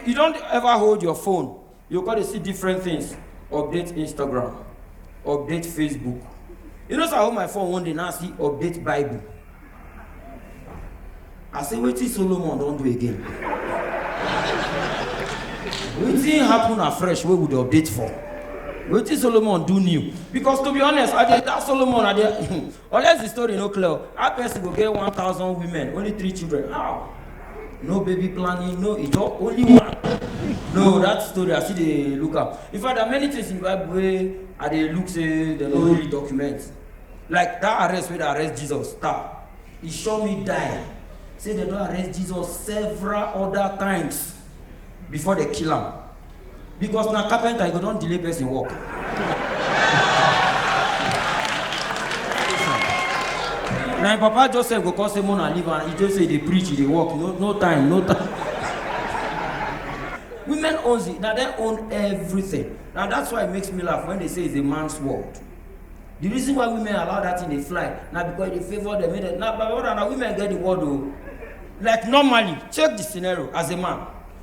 You don't ever hold your phone. You gotta see different things. Update Instagram, update Facebook. You know, so I hold my phone one day now see update Bible. I say, wait till Solomon don't do again. Wetin happen afresh wey we dey update for? Wetin Solomon do new? Because to be honest, I dey that Solomon I dey Unless the story no clear, how person go get 1,000 women, only three children? How? No baby planning, no ijo, only one. No, that story I see dey look am. In fact, there are many things in the Bible wey I dey look say dem no really document. Like that arrest wey dey arrest Jesus, star, e sure me die. Say dem don arrest Jesus several other times before dem kill am. because na carpenter you go don delay person work. na im papa joseph go come say mona leave am he just say dey preach he dey work no no time no time. women own zi na dem own everything na that's why it makes me laugh when they say it's a man's world the reason why women allow that thing dey fly na because e dey favour them make dem na my brother na women get the world o like normally check the scenario as a man